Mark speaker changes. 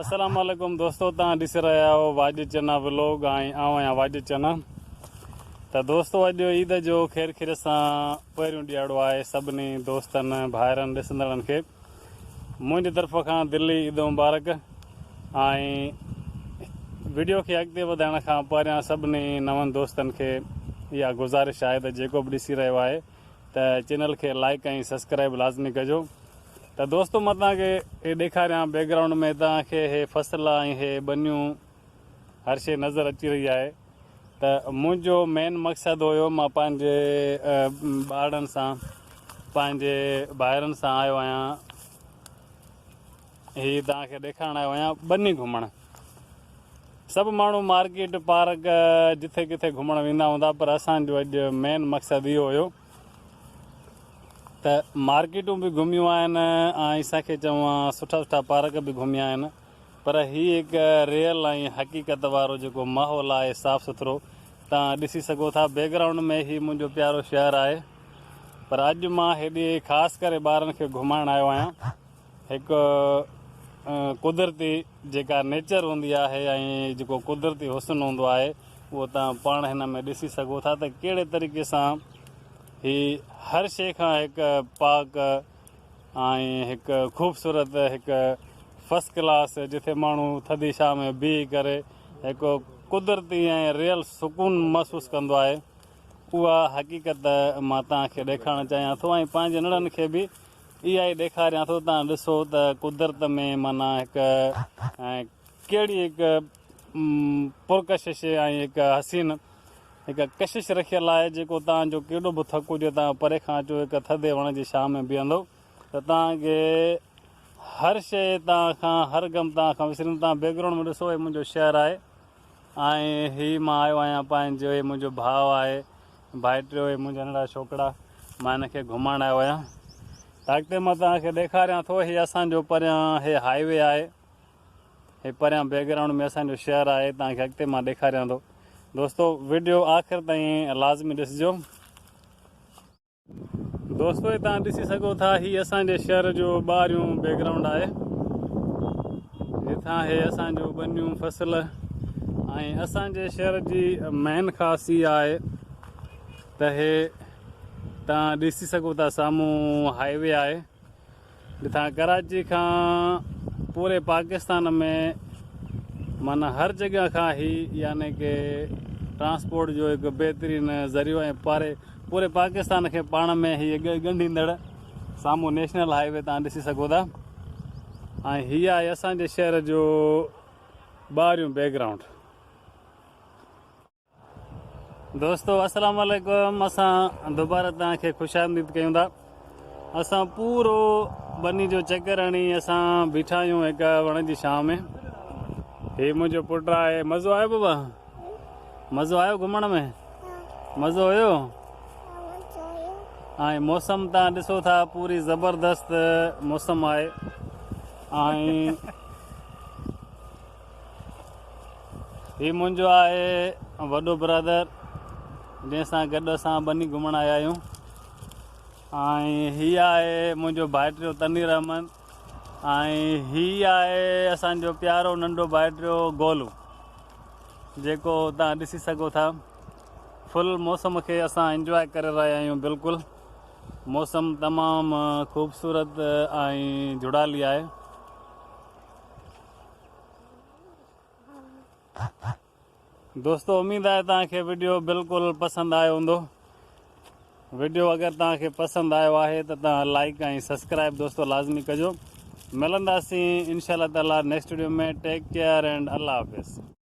Speaker 1: السلام عليڪم دوستو تان ڏسي رهيا آهيو واڄ چنا ولوگ ۽ آئون آهيان واڄ چنا ته دوستو اڄ عيد جو خير خير سان پهريون ڏياڙو آهي سڀني دوستن ڀائرن ڏسندڙن کي منهنجي طرف کان دلي عيد مبارڪ ۽ ويڊيو کي اڳتي وڌائڻ کان پهريان سڀني نون دوستن کي اها گذارش آهي ته جيڪو به ڏسي رهيو آهي ته چينل کي لائيڪ ۽ سسڪرائب لازمي ڪجو ته دوستو مان توهان کي هي ڏيکاريان بيڪ گرائونڊ ۾ توهان کي هي فصل ۽ هي ٻنيون هر شي نظر اچي رهي آهي ته منهنجو مين مقصد هيو مان پنهنجي ٻارڙن سان پنهنجي ڀائرن سان آيو آهيان هي توهان کي ڏيکارڻ آيو آهيان ٻني گهمڻ. سڀ ماڻهو مارڪيٽ، پارڪ جٿي ڪٿي گهمڻ ويندا هوندا پر اسان جو اڄ مين مقصد اهو هيو ته مارڪيٽون به گهميون آهن ۽ اسان کي چوان سٺا سٺا پارڪ به گهميا آهن پر هي هڪ ريئل ۽ حقيقت وارو جيڪو ماحول آهي صاف سٿرو توهان ڏسي سگهو ٿا بيڪ گرائونڊ ۾ هي منهنجو پيارو شهر آهي پر اڄ مان هيڏي خاص ڪري ٻارن کي گهمائڻ آيو آهيان. هڪ قدرتي جيڪا نيچر هوندي آهي ۽ جيڪو قدرتي حسن هوندو آهي اهو توهان پاڻ هن ۾ ڏسي سگهو ٿا ته ڪهڙي طريقي سان هي هر شيء کان هڪ پاڪ ۽ هڪ خوبصورت هڪ فرسٽ ڪلاس جتي ماڻهو ٿڌي شاهه ۾ بيهي ڪري هڪ قدرتي ۽ ريل سڪون محسوس ڪندو آهي اها حقيقت مان توهان کي ڏيکارڻ چاهيان ٿو ۽ پنهنجي نڙن کي به اها ئي ڏيکاريان ٿو تان ڏسو ته قدرت ۾ معنيٰ هڪ ڪهڙي هڪ پرڪشش ۽ هڪ حسين هڪ ڪشش رکيل آهي جيڪو تان جو ڪيڏو به ٿڪ هجي تان پري کان اچو هڪ ٿڌي وڻ جي ڇانو ۾ بيهندو ته تان کي هر شيء تان کان هر غم تان کان وسريندو تان بيڪ گرائونڊ ۾ ڏسو هي منهنجو شهر آهي. آهي هي مان آيو آهيان پنهنجو هي منهنجو ڀاء آهي ڀائٽيو هي منهنجا ننڍڙا ڇوڪرا مان هن کي گهمائڻ آيو آهيان ته اڳتي مان توهان کي ڏيکاريان ٿو هي اسان جو پريان هي هائي وي آهي هي پريان بيڪ گرائونڊ ۾ اسان جو شهر آهي توهان کي اڳتي مان ڏيکاريان ٿو دوستو وڊيو آخر تائين لازمي ڏسجو. دوستو هي توهان ڏسي سگهو ٿا هي اسان جي شهر جو ٻاهريون بيڪ گرائونڊ آهي هيٿان هي اسان جو ٻنيون فصل ۽ اسان جي شهر جي مين خاص هي آهي ته هي توهان ڏسي سگهو ٿا سامهون هاء وي آهي جتان ڪراچي کان پوري پاڪستان ۾ معنيٰ هر جڳهه کان هي يعني ڪه ٽرانسپورٽ جو هڪ بهترين ذريعو ۽ پاري پوري پاڪستان کي پاڻ ۾ هي ڳنڍيندڙ سامهون نيشنل هاء وي تان ڏسي سگهو ٿا ۽ هي آهي اسان جي شهر جو ٻاهريون بيڪ گرائونڊ دوستو السلام عليڪم اسان دوباره تان کي خوش آمديد ڪيون ٿا اسان پورو بني جو چڪر هڻي اسان بيٺا آهيون هڪ وڻ جي شام ۾ هي منهنجو پٽ آهي مزو آيو بابا مزو آيو گھمڻ ۾ مزو هيو ۽ موسم تان ڏسو ٿا پوري زبردست موسم آهي ۽ هي منهنجو آهي وڏو برادر جنهن سان گڏ اسان ٻني گهمڻ آيا آهيون ۽ هي آهي منهنجو ڀائٽيو تنير احمد ۽ هي آهي اسان جو پيارو ننڍو ڀائٽيو گولو جيڪو تان ڏسي سگهو ٿا فل موسم کي اسان انجوء ڪري رهيا آهيون بلڪل موسم تمام خوبصورت ۽ جڙالي آهي دوستو اميد آهي توهان کي ويڊيو بلڪل پسند آيو هوندو ويڊيو اگر توهان کي پسند آيو آهي ته توهان لائڪ ۽ سبسڪرائب دوستو لازمي ڪجو ملنداسين انشاء الله تعالي next video ۾ take care and الله حافظ